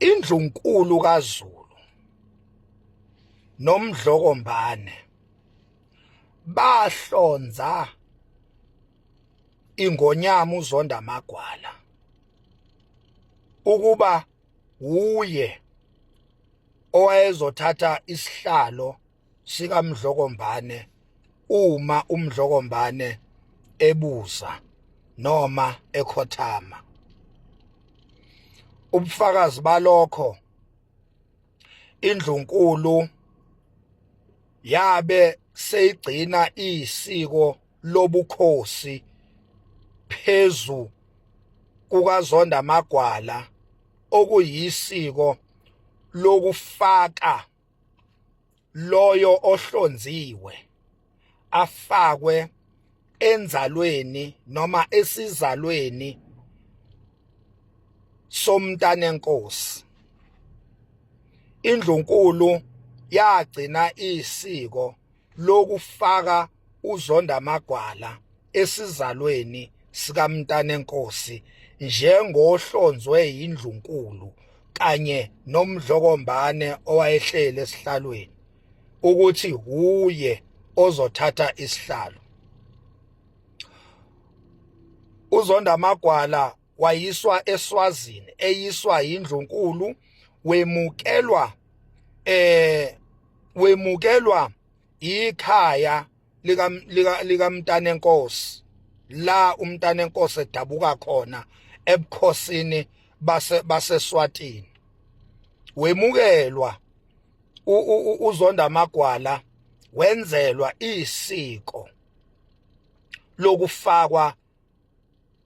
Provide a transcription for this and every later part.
indlunkulu kaZulu nomdlokombane bahlonza ingonyama uzonda amagwala ukuba wuye owayezothatha isihlalo sikamdlokombane uma umdlokombane ebuza noma ekhothama ubufakazi balokho indlunkulu yabe seyigcina isiko lobukhosi phezu kukazonda magwala okuyisiko lokufaka loyo ohlonziwe afakwe enzalweni noma esizalweni somntanenkosi indlunkulu yagcina isiko lokufaka uZonda Magwala esizalweni sikaMntanenkosi njengohlonzwe yindlunkulu kanye nomdlokombane owayehleli esihlalweni ukuthi huye ozothatha isihlalo uZonda Magwala wayiswa eSwazini eyiswa indlunkulu wemukelwa eh wemukelwa ikhaya lika lika likamntana enkosi la umntana enkosi edabuka khona ebukhosini base baseSwatini wemukelwa uzonda amagwala wenzelwa isiko lokufakwa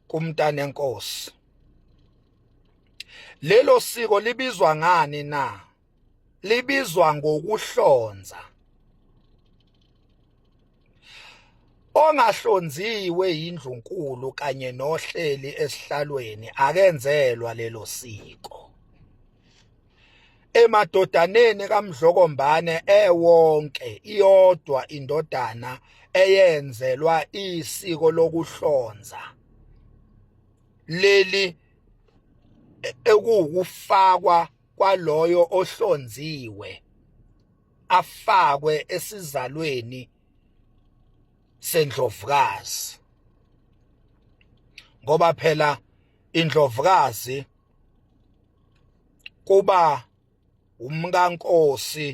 kumntanenkosi lelo siko libizwa ngani na libizwa ngokuhlonza ongahlonziwe yindlunkulu kanye nohleli esihlalweni akenzelwa lelo siko emadodaneni kaMdlokombane ewonke iyodwa indodana eyenzelwa isiko lokuhlonza leli ekuwukufakwa kwaloyo ohlonziwe afakwe esizalweni sendlovukazi ngoba phela indlovukazi kuba umkankosi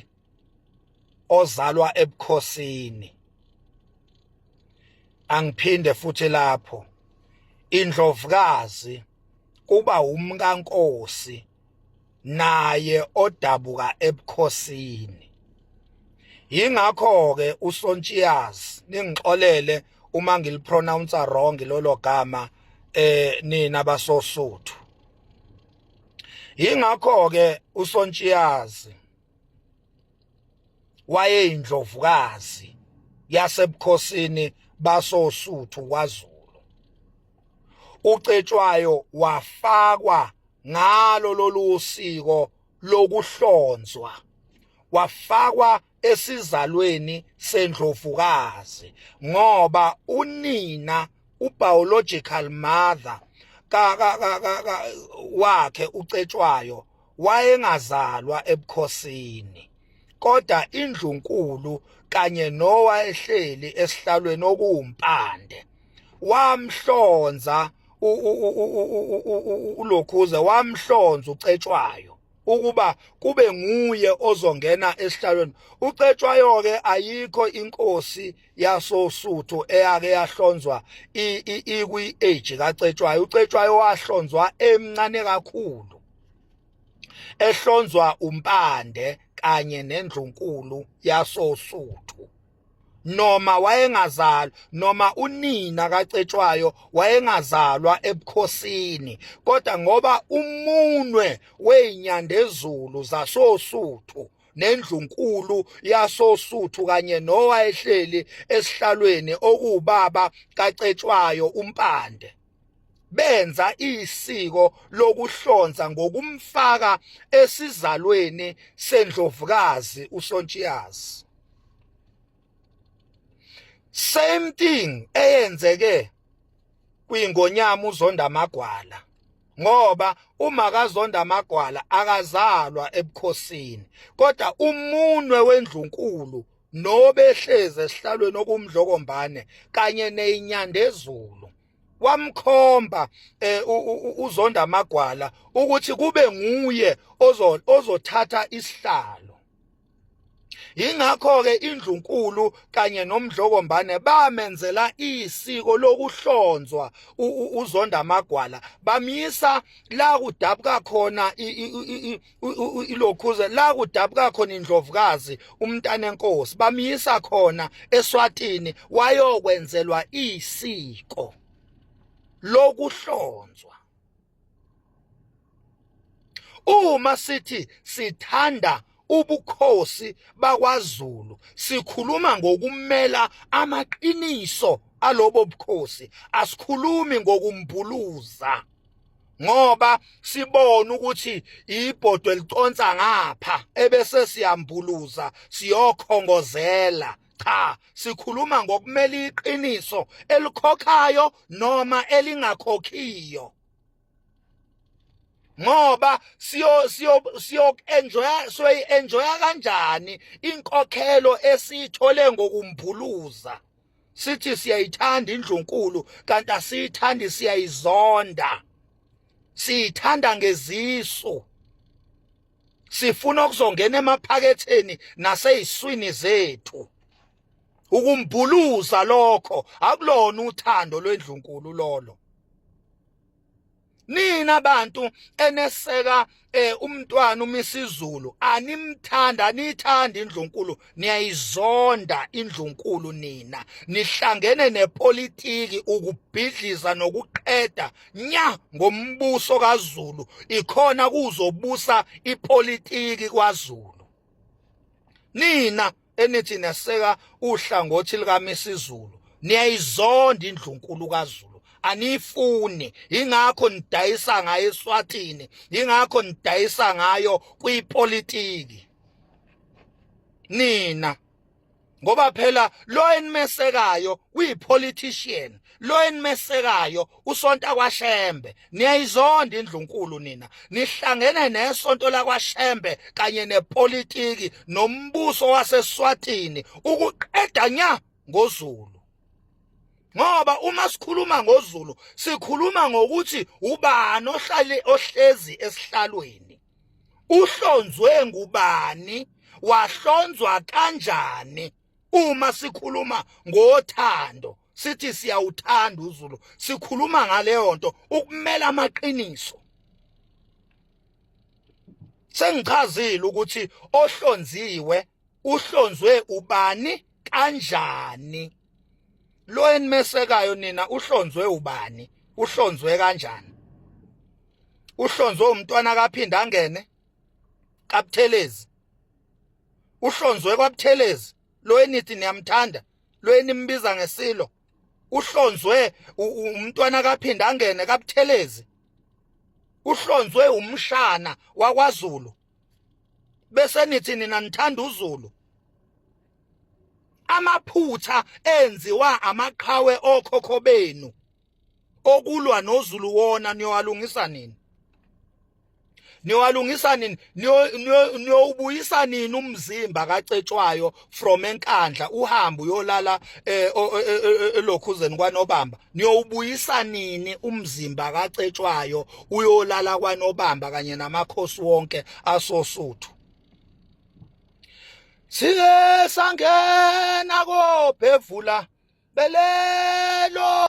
ozalwa ebukhosini angiphinde futhi lapho indlovukazi kuba umkankosi naye odabuka ebukhosini yingakho ke uSontshiyaz ningixolele uma ngilipronounce wrong lolo gama eh nina basosuthu yingakho ke uSontshiyaz wayeyindlovukazi yasebukhosini basosuthu kwaZulu uCetshwayo wafakwa ngalo lolu siko lokuhlonzwa wafakwa esizalweni sendlovukazi ngoba unina ubiological mother ka ka ka wakhe uCetshwayo wayengazalwa ebukhosini kodwa indlunkulu kanye nowayehleli esihlalweni okuwumpande wamhlonza ulokhuze wamhlonza ucetshwayo ukuba kube nguye ozongena esihlalweni ucetshwayo ke ayikho inkosi yasosuthu eyake yahlonzwa ikwi age kacetshwayo ucetshwayo wahlonzwa emncane kakhulu ehlonzwa umpande kanye nendlunkulu yasosuthu noma wayengazalwa noma unina kacetshwayo wayengazalwa ebukhosini kodwa ngoba umunwe weinyandezulu zasosuthu nendlunkulu yasosuthu kanye nowayehleli esihlalweni okuwubaba kacetshwayo umpande benza isiko lokuhlonza ngokumfaka esizalweni sendlovukazi uSontshiyazi same thing eyenzeke kwingonyama uzonda amagwala ngoba uma kazonda amagwala akazalwa ebukhosini kodwa umunwe wendlunkulu nobehlezi esihlalweni okumdlokombane kanye neyinyandezulu wamkhomba eh, uzonda amagwala ukuthi kube nguye ozothatha isihlalo Yingakho-ke indlunkulu kanye nomdlokombane bamenzela isiko lokuhlonzwa uzonda amagwala bamyisa la kudabuka khona ilokhuze la kudabuka khona indlovukazi umntana enkosi bamyisa khona eswatini wayokwenzelwa isiko lokuhlonzwa uma sithi sithanda ubukhosi bakwaZulu sikhuluma ngokumela amaqiniso alobo bukhosi asikhulumi ngokumbhuluza ngoba sibona ukuthi ibhodwe liconsa ngapha ebese siyambuluza siyokhongozela cha sikhuluma ngokumela iqiniso elikhokhayo noma elingakhokhiyo ngoba siyo siyo siyo enjoya soyi enjoya kanjani inkokhelo esithole ngokumbhuluza sithi siyayithanda indlunkulu kanti asiyithandi siyayizonda siyithanda ngezisu sifuna ukuzongena emaphaketheni naseyiswini zethu ukumbhuluza lokho akulona uthando lwendlunkulu lolo nina bantu eneseka eh umntwana umisizulu animthanda anithanda indlunkulu niyayizonda indlunkulu nina nihlangene nepolitiki ukubhidliza nokuqeda nya ngombuso kaZulu ikhona kuzobusa ipolitiki kwaZulu nina enithi neseka uhlangothi likaMisizulu niyayizonda indlunkulu kaZulu aniyifuni ingakho nidayisa ngayo eSwatini ingakho nidayisa ngayo kwipolitiki nina ngoba phela lo enimesekayo uyipolitician lo enimesekayo usonta kwaShembe niyayizonda indlunkulu nina nihlangene nesonto lakwaShembe kanye nepolitiki nombuso waseSwatini ukuqeda nya ngoZulu ngoba uma sikhuluma ngoZulu sikhuluma ngokuthi ubani ohlale ohlezi esihlalweni uhlonzwe ngubani wahlonzwa kanjani uma sikhuluma ngothando sithi siyawuthanda uZulu sikhuluma ngaleyo nto ukumela amaqiniso sengichazile ukuthi ohlonziwe uhlonzwe ubani kanjani lo enimesekayo nina uhlonzwe ubani uhlonzwe kanjani uhlonzwe umntwana kaphinde angene kabuthelezi uhlonzwe kwabuthelezi lo enithi niyamthanda lo enimbiza ngesilo uhlonzwe umntwana kaphinda angene kabuthelezi uhlonzwe umshana wakwaZulu bese nithi nina nithanda uZulu amaphutha enziwa amaqhawe okhokho benu okulwa noZulu wona niyowalungisa nini niwalungisa nini niyowubuyisa nini umzimba kacetshwayo from enkandla uhambe uyolala eh, e, e, e, elokhuzeni kwanobamba niyowubuyisa nini umzimba kacetshwayo uyolala kwanobamba kanye namakhosi wonke asosuthu siye sangena kobhevula belelo